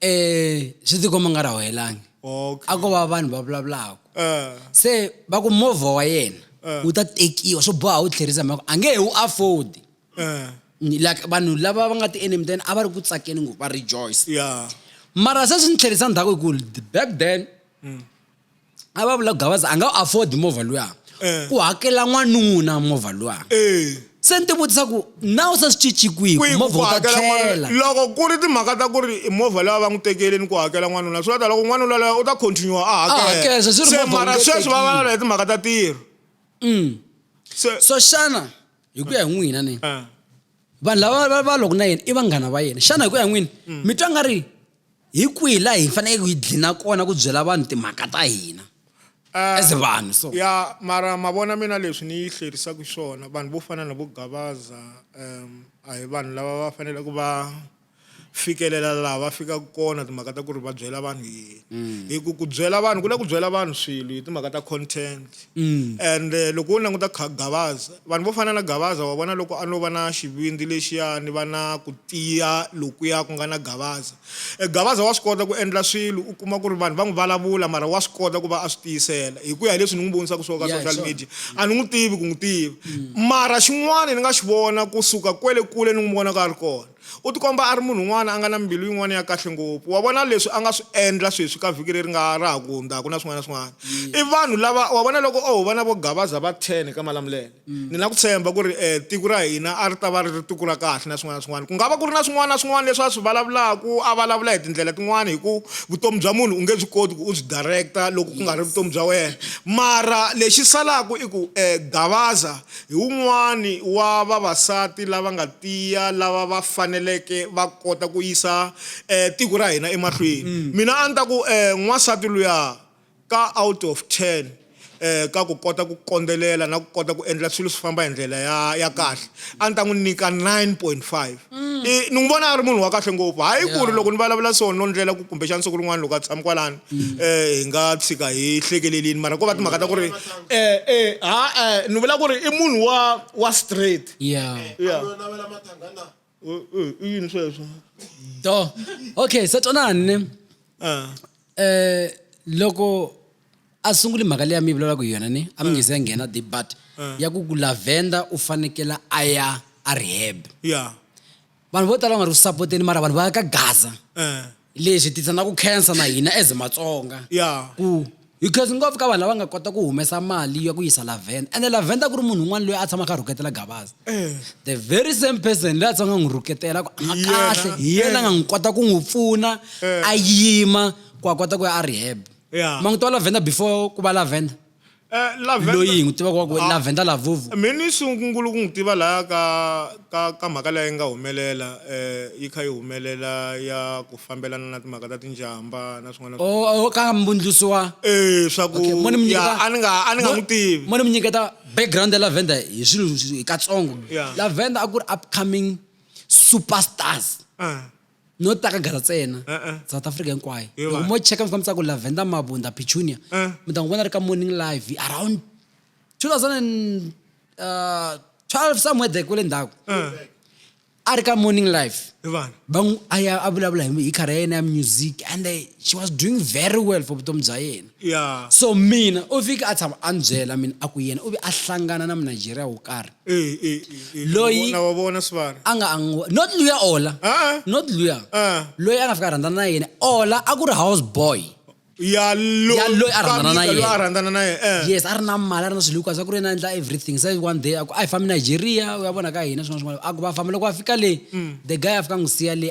eh swi tikomba nga ra hoyelangi okay a ko va vanhu va vulavulaka eh se va ku movha wa yena Eh. wu ta tekiwa swo boha wu tlherisa mhaka a nge he wu afford eh Ni- like vanhu lava va nga ti-enemy then a va ri ku tsakeni ngopfu va rejoice yeah mara se swi ni tlherisa ndzhaku hi ku back then a va vula gavaza a nga afford movha luya eh. ku hakela n'wanuna movha luya eh. se ni ti vutisa ku na u se swi cinci kwihi movha wu ta tlhela loko ku ri timhaka ta ku ri movha leyi va n'wi tekeleni ku hakela n'wanuna swi va ta loko n'wanuna loyo u ta continue a hakela se mara sweswi va valala hi timhaka ta tirho mm. so xana hi ku ya hi n'wina ni eh. vanhu lava va loko na yena i vanghana va yena xana hi ku ya n'wini mm. mi twa nga ri Hi kwihi laha hi fanekeke hi dlina kona ku byela vanhu timhaka ta hina as vanhu so? Ya mara ma vona mina leswi ni yi hlerisaka swona vanhu vo fana na vo Gavaza um a hi vanhu lava va faneleke va fikelela laha va fikaka kona timhaka ta ku ri va byela vanhu yini hi ku ku byela vanhu ku le ku byela vanhu swilo hi timhaka ta content. Mm. and eh, loko wo languta kha gavaza vanhu vo fana na gavaza wa vona loko a no va na xivindzi lexiyani va na ku tiya lokuya ku nga na gavaza e gavaza wa swi kota ku endla swilo u kuma ku ri vanhu va n'wi vulavula mara wa swi kota ku va a swi tiyisela hi ku ya hi leswi ni n'wi vonisaka swo ka social media a ni n'wi tivi ku n'wi tiva mm. mara xin'wana ni nga xi vona kusuka kwele kule ni n'wi vonaka a ri kona U tikomba a ri munhu un'wana a nga na mbilu yin'wana ya kahle ngopfu. Wa vona leswi a nga swi endla sweswi ka vhiki leri nga ra ha ku hundzaka na swin'wana na swin'wana. I vanhu lava, wa vona loko o ho vona vo Gabaza va 10 eka Malamulele, ni na ku tshemba ku ri tiko ra hina a ri ta va ri ri tiko ra kahle na swin'wana na swin'wana. Ku nga va ku ri na swin'wana na swin'wana leswi a swi vulavulaka, a vulavula hi tindlela tin'wana hi ku vutomi bya munhu u nge byi koti ku u byi director loko ku nga ri vutomi bya wena. Mara lexi salaka i ku Gabaza Hi wun'wana wa vavasati lava nga tiya lava va faneleke va kota ku yisa tiko ra hina emahlweni. Mina a ni ta ku n'wansati luya ka out of ten ka ku kota ku kondzelela na ku kota ku endla swilo swi famba hi ndlela ya ya kahle a ni ta n'wi nyika nine point five. Mm. I, ni n'wi vona a ri munhu wa kahle ngopfu hayi yeah. ku ri loko ni vulavula so no ndlela ku kumbexana siku rin'wana loko a tshama kwalani um mm. eh, hi nga tshika hi hlekelelini mara ko va timhaka ta ku ri eh, eh, ha ni vula ku ri i munhu wa wa straight yeah. yeah. i yini sweswo do okay sa twanani um loko a sunguli mhaka leyi a mi yi vulavulaka hi yona ni a mi nge se nghena deep but ya ku ku lavenda u fanekela a ya a rehab ya vanhu vo tala va nga ri ku sapoteni mara vanhu va ya ka gaza eh leswi tisa na ku khensa na hina as matsonga ya ku because ngopfu ka vanhu lava nga kota ku humesa mali ya ku yisa lavenda ende lavenda ku ri munhu un'wana loyi a tshama a kha a rhuketela gabaza eh the very same person leyi a tsanga n'wi rhuketela ku a Hi yena. kahle hi yena nga n'wi kota ku n'wi pfuna Eh. a yima ku a kota ku ya a rehab Yeah. ma n'wi tiva lavenda before ku va lavenda Eh, lavender- loyi hi n'wi tivaka wa ku Ah. lavenda lavuvu mina ni sungungulu ku n'wi tiva laha ka ka ka mhaka leyi nga humelela eh yi kha yi humelela ya ku fambelana na timhaka ta tinjamba na swin'wana na swin'wana. o o ka mbundlusi wa eh swa ku Okay, mo ni mi ya, nyiketa- a ni nga a ni nga mo- n'wi tivi mo ni mi nyiketa background ya lavenda hi swilo hi katsongo Yeah. lavenda a ku ri upcoming superstars Ah. no ta ka gara tsena Eh, eh. south africa hinkwayo Yo loko va- mo cheka mi fika mi tsaka ku lavenda mabunda pichunia Eh. mi ta n'wi vona ri ka morning live around 2012 uh, somewhere there kule ndhaku Eh, a ri ka morning live hi vanhu va n'wi a ya a vulavula hi hi khara ya yena ya music and eh, she was doing very well for vutomi bya yena ya so mina u fike a tshama a ni byela mina a ku yena u ve a hlangana na munigeria wo karhi Eh, eh, eh, eh. Loyi- na wa vona swivanhu a nga angu not luya ola Ah. not luya Ah. loyi a nga fika a rhandzana na yena ola a ku ri house boy ya lo- Ya loyi a rhandzana na Kamisa loyi yena. a rhandzana na yena eh. yes a ri na mali a ri na swilo hinkwaswo a ku ri yena a endla everything se one day a ku a hi fambi nigeria u ya vona ka hina swin'wana swin'wana a ku va famba loko a fika le the guy a fika a n'wi siya le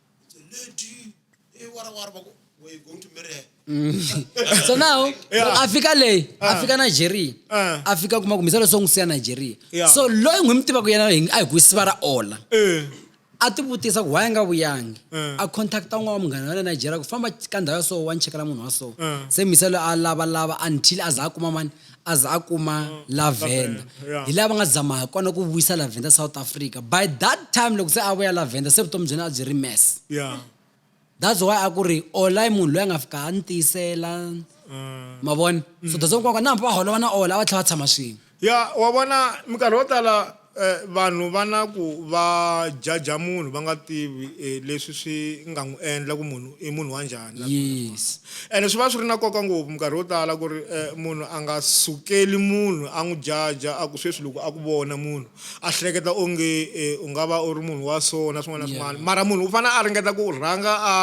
so now a fika leyi a fika nigeria Ah. a fika kuma kumbisa leswo n'wi siya nigeria Yeah. so loyi n'wi mi tivaka yena hi- a hi ku siva ra ola Eh, a ti vutisa ku why a nga vuyangi Mm. a contacta un'wana wa munghana wa le nigeria ku famba ka ndhawu ya so wa ni chekela munhu wa so Mm. se miselo a lavalava until a za a kuma mani a za a kuma Lavender hi lava nga zama hi kona ku vuyisa Lavender South Africa by that time loko se a vuya Lavender se vutomi byena a byi ri mess yeah that's why a ku ri ola i munhu loyi a nga fika a ni tiyisela mm. ma vona so that's why na va holova na ola a va tlhela va tshama swin'we ya wa vona minkarhi yo tala E Vanhu va na ku va jaja munhu va nga tivi e leswi swi nga n'wi endla ku munhu i munhu wa njhani na swin'wana na Yes. swin'wana. Ene swi va swi ri na nkoka ngopfu minkarhi yo tala ku ri e munhu a nga sukeli munhu a n'wi jaja a ku sweswi loko a ku vona munhu a hleketa onge e u nga va u ri munhu wa so na swin'wana na Yeah. swin'wana mara munhu u fanele a ringeta ku rhanga a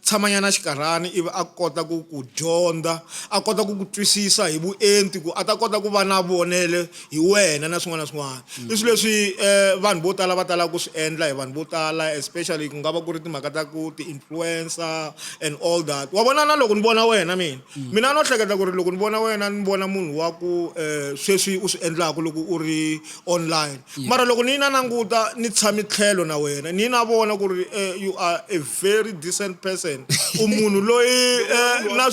tshamanyana xinkarhana ivi a kota ku ku dyondza a kota ku ku twisisa hi vuenti ku a ta kota ku va na vonelo hi wena na swin'wana na swin'wana i swilo leswi um vanhu vo tala va talaka ku swi endla hi vanhu vo tala especially ku nga va ku ri timhaka ta ku ti-influencer and all that wa vona na loko ni vona wena mina mm. mina no hleketa ku ri loko ni vona wena ni vona munhu wa ku um sweswi u swi endlaka loko u ri online mara loko ni yi na nanguta ni tshami tlhelo na wena ni yi na vona ku ri eh, you are a very decent person u munhu loyi eh, na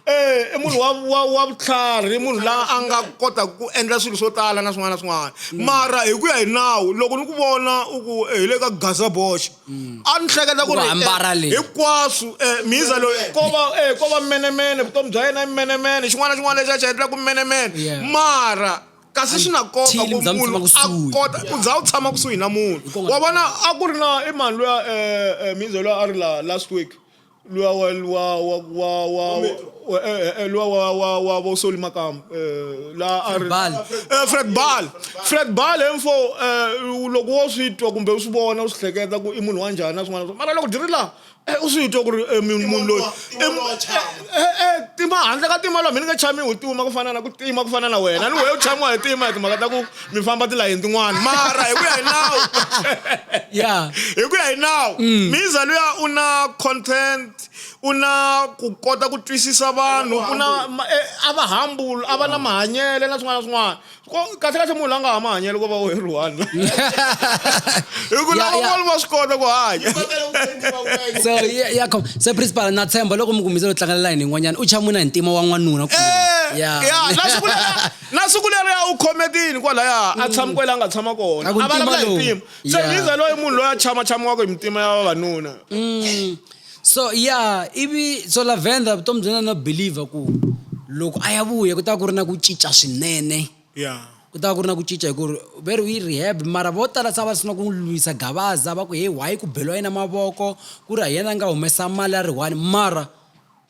Eh, i munhu wa wa wa vutlhari i munhu la a nga kotaka ku endla swilo swo tala na swin'wana na swin'wana mm. mara hi ku ya hi nawu loko ni ku vona u ku eh, hi le ka gaza boxa mm. a ni hleketa ku ri eh, hinkwaswo miza loyi ko va ko va menemene vutomi bya yena i menemene xin'wana na xin'wana lexi a xi endla ku menemene mara kasi swi na nkoka ku munhu a kota u za u tshama kusuhi na munhu wa vona a ku ri na i mhani luya um miza loyi a ri la last week lwa wa lwa wa wa wa wa- eh, eh, eh, lwa wa wa wa vo soli makamu eh, la a ri Bal. Eh, fred bal fred bal emfo eh, loko wo swi twa kumbe u swi vona u swi hleketa ku i munhu wa njhani na swin'wana na swin'wana. mara loko dyi ri laha eh, u swi twa ku ri eh, munhu munhu loyi i munhu wa chama. Eh, eh, eh, tima handle ka tima lwa mhini nge chami hi tima ku fana na ku tima ku fana na wena ni wehe u chamiwa hi tima hi timhaka ta ku mi famba tilayeni tin'wana mara hi ku ya hi nawu ya hi ku ya hi nawu mm. miza luya u na content u na ku kota ku twisisa vanhu u na eh, a va humble a va na mahanyele na swin'wana na swin'wana kahle kahle munhu la nga ha mahanyelo ko va u heriwana hi ku lava van'wana va swi kota ku hanya so ya khom se principal na tshemba loko mi kumbisa lo tlangela layini yin'wanyana u chamuna hi ntima wa n'wanuna eh, ya ya Na siku leriya u khome ku yini kwalaya a tshama kwela a nga tshama kona? A vulavula hi mpimo. Se Liza loyi munhu loyi a chama chamiwaka hi mitima ya vavanuna. Mm. So yeah, ivi so Lavender vutomi bya na believer ku loko a ya vuya ku ta ku ri na ku cinca swinene. Yeah. ku ta ku ri na ku cinca hi ku ri ve ri yi rehab mara vo tala se a va sungula ku n'wi lwisa gavaza va ku he why ku beliwa yena mavoko ku ri hi yena a nga humesa mali ya ri one mara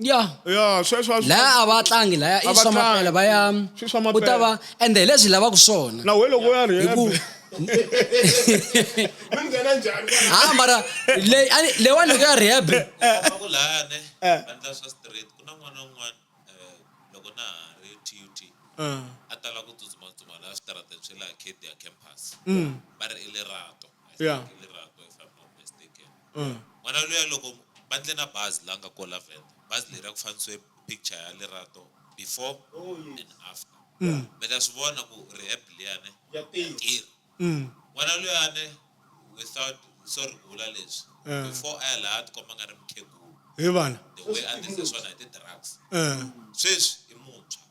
ya ya sweswo a swi- laya a va tlangi laya A i va swa tlangi. mapela va ya Swi swa mapela. ku ta va ende hi leswi lavaka swona na we loko u ya hi rehab ku mi nghena njhani ha mara leyi a ni- leyiwani loko ya rehab Ku lani Eh. vandla swa straight ku na n'wana un'wana eh, loko na ha ri tut a tala ku tsutsumatsuma laha switarateni swe laha kd ya campus va ri i lerato I think Yeah. i lerato if I'm not mistaken N'wana luya loko va ndle na bazi la nga ko la Venda, bazi leriya ku fanisiwe picture ya Lerato before and after mi ta swi vona ku rehab liyani ya tirha. N'wana luyani without sorry ku vula leswi before a ya laya a ti komba a nga ri mukhegulu the way a tirhise swona hi ti drugs sweswi i muntshwa.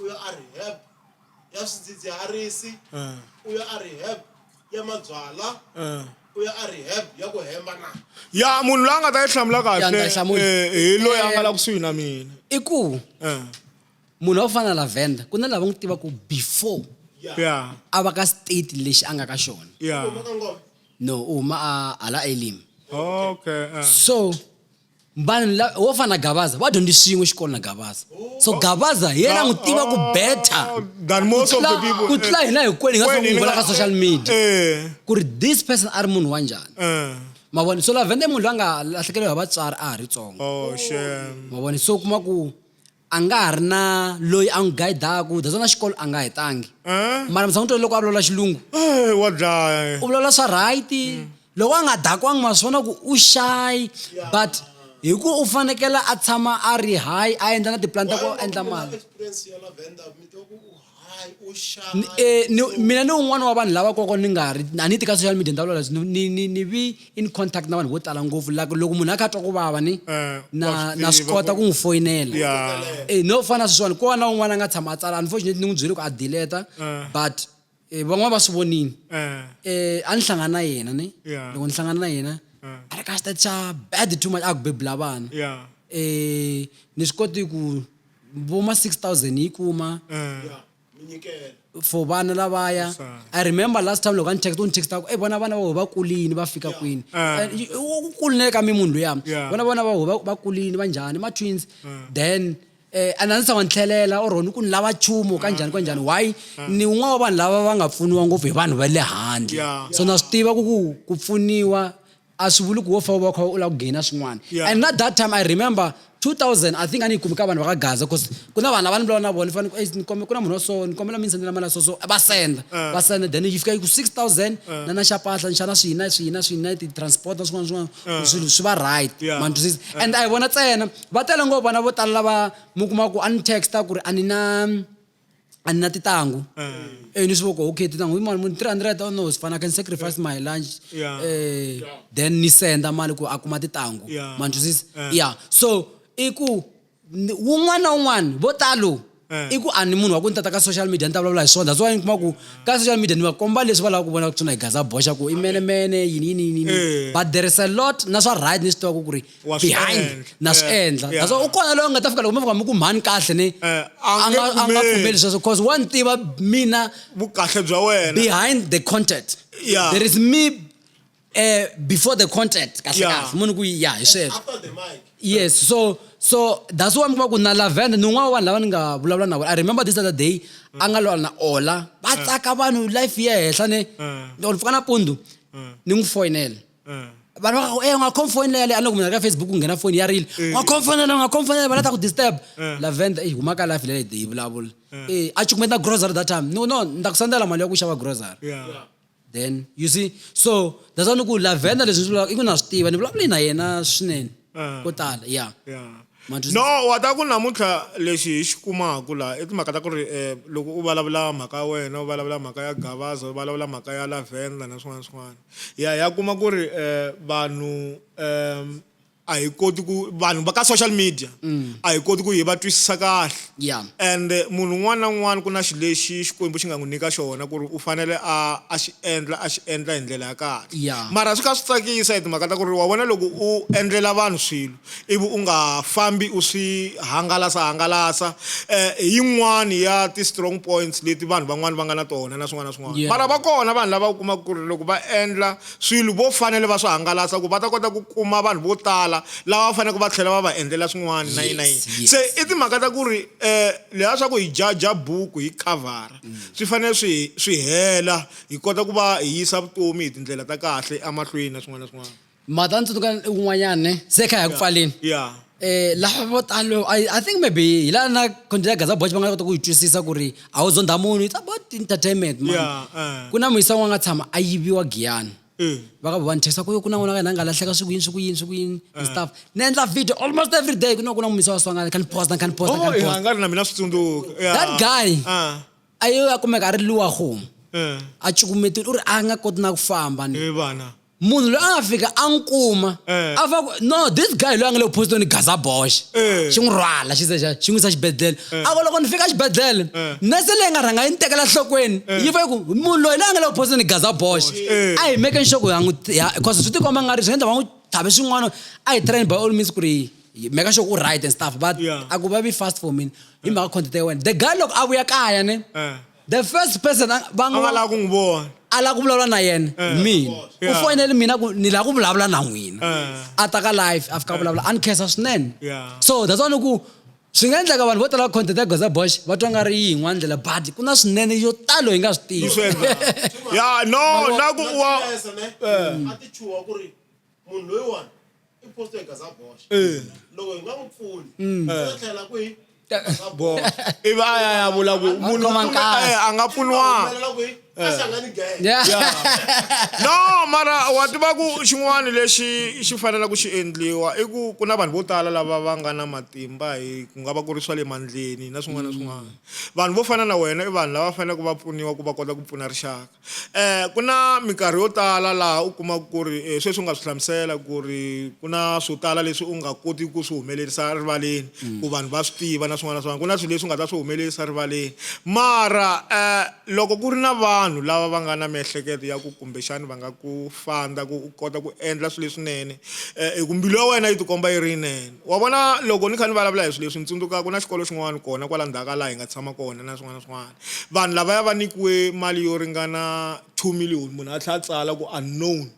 u ya ariheb ya swidzidziharisi u ya ariheb ya mabyala u ya ariheb ya ku hemba na ya munhu loyi a nga ta yi hlamula kahle eh, hi loyi a nga la kusuhi na mina i ku munhu wa ku fana na lavenda ku na lava n'wi tivaku before ya a va ka state lexi a nga ka xona ya no u huma a hala elim okay so vanhu la- wo fana na gavaza va dyondzi swin'we xikolo na gavaza so gavaza hi yena a n'wi tiva ku beta Oh, than most of the Tlula- people. ku tlula hina hinkwenu hi nga Kwenu, swi n'wi vula ka social media Eh, ku ri this person a ri munhu wa njhani eh. mavoni so lavende munhu loyi a nga lahlekeriwa hi vatswari a ha ri tsongo Oh, shame. mavoni so kuma ku A nga ha ri na loyi a n'wi gayidaka, that's why na xikolo a nga hetangi. Mara mi tshama mi twile loko a vulavula Xilungu? Eeh, wa dlaya. U vulavula swa right, loko a nga dakiwangi ma swi vona ku u shy but hi ku u fanekele a tshama a ri high a endla na ti-plan ta ku a endla mali. Eh, ni, mina ni un'wana wa vanhu lava koko ni nga ri a ni ti ka social media ni ta vulavula ni, ni, ni vi in contact na vanhu vo tala ngopfu like loko munhu a kha a twa ku vava ni eh, na na swi kota ku n'wi foyinela eh, no fana sweswiwani ko va na un'wana a nga tshama a tsala unfortunately ni n'wi byele ku a dileta eh. but um van'wana va swi vonile um a ni hlangana na yena ni loko ni hlangana na yena a ri ka xitati xa bad too much a ku bebula vana um ni swi koti ku vo ma 6000 ni yi kuma eh, ya mi nyikela for vana lavaya Sure. i remember last time loko a ni text u ni text ako e vona vana va wehe va kulini va fika kwini Ah. And y- u u kuline ka mi munhu luyama Yeah. vona vona va wehe va- va kulini va njhani ma twins then eh and a ndzi tshama ni tlhelela or ni ku ni lava chumu ka njhani ka njhani why ni un'wana wa vanhu lava va nga pfuniwa ngopfu hi vanhu va le handle Yeah. so na swi tiva ku ku ku pfuniwa a swi vuli ku wo fa u va kha u lava ku gaina swin'wana yeah. and not that time i remember 2000 i think a ni yi kumi ka vanhu va ka gaza bcause ku na vanhu lava ni vulavula na vona ni fanele eh, ku na munhu wa so ni kombela mi ni sendela mali ya so so va senda eh. va senda then yi fika yi ku 6000 eh. na na xapahla nxana swihi na swihi na swihi na ti-transport na swin'wana swin'wana swilo swi va right mantwisisa and a hi vona tsena va tele ngopfu vana vo tala lava mi kuma ku a ni texta ku ri a ni na a ni na titangu eh ni swi voko okay titangu hi mali muni 300 oh no sifana I can sacrifice my lunch Yeah. eh then ni senda mali ku a kuma titangu Yeah. ma ni twisisa Eh. yeah so i ku ni- wun'wana na wun'wana vo talo Eh. i ku a ni munhu wa ku ni tata ka social media ni ta vulavula hi swona that's why ni kuma ku ka social media ni va komba leswi va lava ku vona ku tsona hi gaza boxa ku i menemene yini yini yini Eh. yini but there is a lot na swa right ni swi tivaka ku ri Wa swi behind endla. na swi Eh, endla yeah. naswona u kona loyi a nga ta fika loko mi fika mi ku mhani kahle ni Eh, a a nge nga a nga pfumeli. pfumeli sweswo because wa ni tiva mina vukahle bya wena behind the content Yeah. there is me uh, before the content kahle Yeah. kahle munhu ku ya hi sweswo After the mic. yes so so that's why mi kuma ku na lavenda ni un'wana wa vanhu lava ni nga vulavula na vona i remember this other day a nga lwala na ola va tsaka vanhu life yi ya henhla ne ni or ni pfuka napundu ni n'wi foyinela eh. vanhu va eh, nga khom foni leya leyi a loko munhu ri ka facebook ku nghena foni ya rile eh. nga khom fonela nga khom fonela va lata ku disturb lavenda i huma ka life leyi de yi vulavula e a cukumeta grocery that time no no ni ta ku sendela mali ya ku xava grocery then you see so that's why ni ku lavenda leswi ni swi vulaka i ku na swi tiva ni vulavule na yena swinene ko tala ya no wa ta ku namuntlha lexi hi xi kumaka laha i timhaka ta ku ri um loko u vulavula mhaka ya wena u vulavula mhaka ya gavaza u vulavula mhaka ya lavenda na swin'wana swin'wana ya ya kuma ku ri eh, vanhu um a hi koti ku vanhu va ka social media mm. a hi koti ku hi va twisisa kahle yeah. and eh, munhu un'wana na un'wana ku na xi lexi xikwembu xi nga n'wi nyika xona ku ri u fanele a a xi endla a xi endla hi ndlela ya kahle yeah. mara swi kha swi tsakisa hi timhaka ta ku ri wa vona loko u endlela vanhu swilo ivi u nga fambi u swi hangalasa-hangalasa hi yin'wani ya ti-strong points leti vanhu van'wani va nga na tona na swin'wana na swin'wana. Mara va kona vanhu lava u kumaka ku ri loko va endla swilo vo fanele va swi hangalasa ku va ta kota ku kuma vanhu vo tala lava va faneke va tlhela va va endlela swin'wani na yini na yini. Se i timhaka ta ku ri leswiya swa ku hi jaja buku hi khavhara swi fanele swi swi hela hi kota ku va hi yisa vutomi hi tindlela ta kahle emahlweni na swin'wana na swin'wana. mhata ndzi tsundzuka un'wanyana ne se kha hi ya ku pfaleni yeah eh lava vo talo I, i think maybe hi laha na content ya gaza boch va nga kota ku yi twisisa ku ri a wu zondha munhu it's about entertainment man Yeah, eh. ku na muyisa wun'we a nga tshama a yiviwa giyani Eh. va ka vona thesa ku yo ku na n'wana ka hina a nga lahleka swi ku yini swi ku yini swi ku yini and stuff ni endla video almost every day ku na ku na muyisa wa swangana kha ni posta kha ni posta kha oh ni yeah posta ngari na mina swi tsundzuka yeah That guy. ah a yo ya kumeka a ri luwa homu eh a cukumetile u ri a nga koti na ku famba ni eh bana munhu loyi a nga fika a n'wi kuma eh. a va no this guy loyi a nga le kuphosito ni gaza boxe eh. xi n'wi rhwala xi zexa xi n'wi yisa xibedhlele eh. a ku loko ni fika xibedhlele nese leyi nga rhanga yi ni tekela nhlokweni yi va yi ku munhu loyi loyi a nga le kuphosito ni gaza boxe a hi meke nxoko ya n'wi because swi tikomba nga ri swi nga endla va n'wi thavi swin'wana a hi train by all means ku ri meka sure u right and stuff but a ku va vi fast for mina hi mhaka content ya wena the guy loko a vuya kaya ne the first person a va a nga n'wi lava ku n'wi vona a lava ku vulavula na yena Eh. mina u Yeah. foyinele mina ku ni lava ku vulavula na n'wina Eh. a ta ka live a fika a vulavula a ni khensa swinene Yeah. so that's why ni ku swi nga endleka vanhu vo tala va content ya goza bosh va twa nga ri yi yin'wana ndlela but ku na swinene yo talo hi nga swi tivi Swi endla. ya no na ku wa a ti chuha ku ri munhu loyiwani i posto hi gaza boxa Eh. loko hi nga n'wi pfuni Mm. swi ta tlhela kwihi gaza boxa ivi a ya ya vula ku munhu Khoma u pfune- nkasi. eh, a nga pfuniwanga humelela kwihi a hlangani gaya Yeah. no mara wa tiva ku xin'wana lexi xi fanelaka ku xi endliwa i ku ku na vanhu vo tala lava va nga na matimba hi ku nga va ku ri swa le mandleni na swin'wana na swin'wana vanhu vo fana na wena i vanhu lava faneleke va pfuniwa ku va kota ku pfuna rixaka Ku na minkarhi yo tala laha u kumaka ku ri sweswi u nga swi hlamusela ku ri ku na swo tala leswi u nga koti ku swi humelerisa rivaleni mm. ku vanhu va swi tiva na swin'wana na swin'wana ku na swilo leswi u nga ta swi humelerisa rivaleni mara um loko ku ri na vanhu lava va nga na miehleketo ya ku kumbexani va nga ku fanda ku u kota ku endla swilo leswinene um hi ku mbilu ya wena yi tikomba yi ri yinene wa vona loko ni kha ni vulavula hi swilo leswi ni tsundzuka ku na xikolo xin'wana kona kwala ndzhaku ka laha hi nga tshama kona na swin'wana na swin'wana vanhu lavaya va nyikiwe mali yo ringana two million munhu a tlhela a tsala ku unknown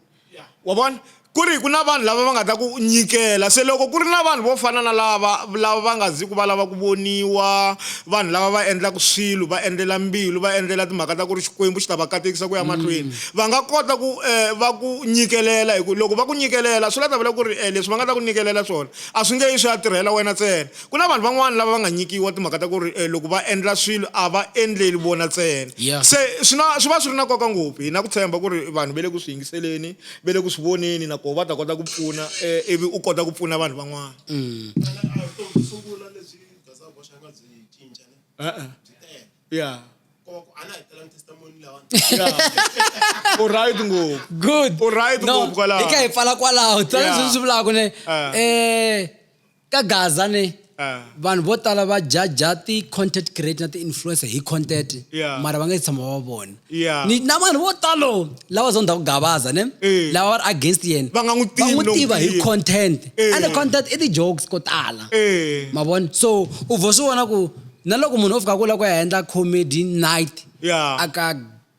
wa vona ku ri ku na vanhu lava va nga ta ku nyikela se loko ku ri na vanhu vo fana na lava lava va nga ziki va lava ku voniwa vanhu lava va endlaka swilo va endlela mbilu va endlela timhaka ta ku ri xikwembu xi ta va katekisa ku ya mahlweni mm. va nga kota ku eh, va ku nyikelela hi ku loko va ku nyikelela swi la ta vula ku ri eh, leswi va nga ta ku nyikelela swona a swi nge yi swi ya tirhela wena ntsena Ku na vanhu van'wana lava va nga nyikiwa timhaka ta ku ri loko va endla swilo a va endleli vona ntsena. Yeah. Se swi na swi va swi ri na nkoka ngopfu hi na ku tshemba ku ri vanhu va le ku swi yingiseleni, va le ku swi voneni na koho va ta kota ku pfuna ivi u kota ku pfuna vanhu van'wana. Ka Gaza ne, vanhu vo tala va jaja ti-content creator na ti-influencer hi content Yeah. mara va nga si tshama va va vona Yeah. Ni- na vanhu vo talo lava zonda ku gavaza ne Eh. lava va ri against yena Va nga n'wi tivi va n'wi loko tiva hi tiya. content Eh. and content i ti-jokes ko tala Eh. ma vona so u vo swi vona ku na loko munhu o fika ku la ku ya endla comedy night Yeah. aka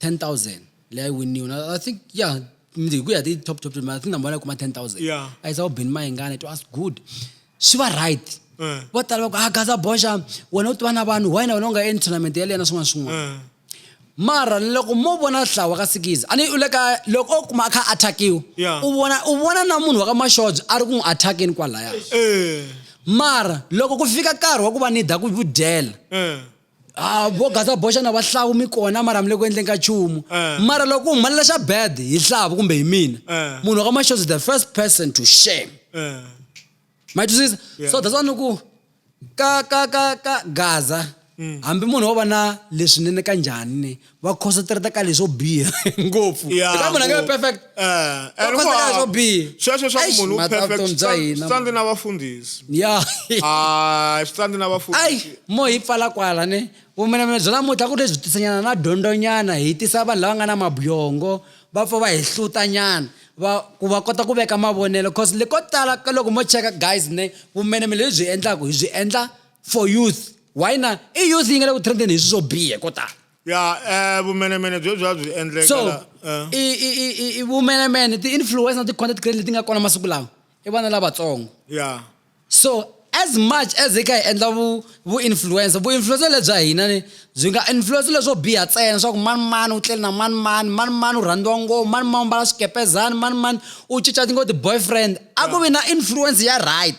10000 leyi a yi winiwa na i think yeah hi ku ya ti top top i think number one kuma 10000 yeah a yi sa ubeni mayingana it was good swi va right eh. vo tala va ku a ah, gaza boxa wena u tiva na vanhu why na wena u nga endli tournament yaleyo na swin'wana swin'wana eh. mara loko mo vona hlawa ka sikizi a ni u le ka loko o kuma a kha attackiwa u vona u vona na munhu wa ka maxodzo a ri ku n'wi attackeni kwalaya eh. mara loko ku fika nkarhi wa ku va ni da ku dyela a vo gaza boxa na vahlawu mi kona mara mi le ku endleni ka chumu eh. mara loko ku humelela xa bad hi hlavu kumbe hi mina eh. munhu ka maxozi the first person to shame eh. ma twisisa so that's why ni ku ka ka ka ka gaza mm. hambi munhu wo va na leswinene ka njhani va concentrata ka leswo biha ngopfu Ya, Eka munhu a nge vi ngopfu. perfect Eh, Va and concentrate ka leswo hinkwavo. biha sweswo swa ku Eish, munhu u mhaka ya perfect vutomi bya swi hina, tsandze na vafundhisi ya Ah, swi tsandze na ai vafundhisi mo hi pfala kwala ne vumenemene bya namuntlha ku ri lebyi tisanyana na dyondzonyana hi tisa vanhu lava nga na mabyongo va pfa va hi hlutanyana va ku va kota ku veka mavonelo cause le ko tala ka loko mo cheka guys ne vumenemene lebyi hi endlaku hi byi endla for youth why na i youth yi nga le ku trendeni hi swi swo bihe ko tala ya um vumenemene byo bya byi endleka so la- eh. i i i i i vumenemene ti-influence na ti-content create leti nga kona masiku lawa i vana lavatsongo ya so as much as hi kha hi endla vu vu-influencer vu-influencer lebya hina ni byi nga influencer leswo biha ntsena swa ku mani mani u tlele na mani mani mani mani u rhandziwa ngopfu mani mani u mbala swikepezani mani mani u cinca tingo ti-boyfriend a ku vi na influence ya right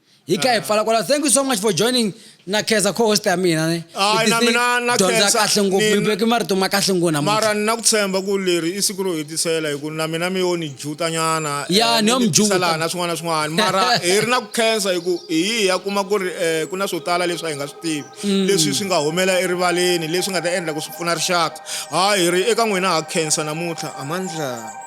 hi ka hi pfala kwala thank you so much for joining na khensa co-host ya mina ne Hayi, na mina na dyondza khensa. kahle ngopfu Ni- mi veke marito ma kahle ngopfu namuntlha mara ni na ku tshemba ku leri i siku ro hetisela hi ku na mina mi yo ni jutanyana Ya, eh, ni yo mi mi juta. tisela na swin'wana na swin'wana mara hi ri na ku khensa hi ku hi yi ya kuma ku ri um ku na swo tala leswi a hi nga swi tivi Mm. leswi swi nga humela erivaleni leswi nga ta endla ku swi pfuna rixaka hayi hi ri eka n'wina ha khensa namuntlha amandla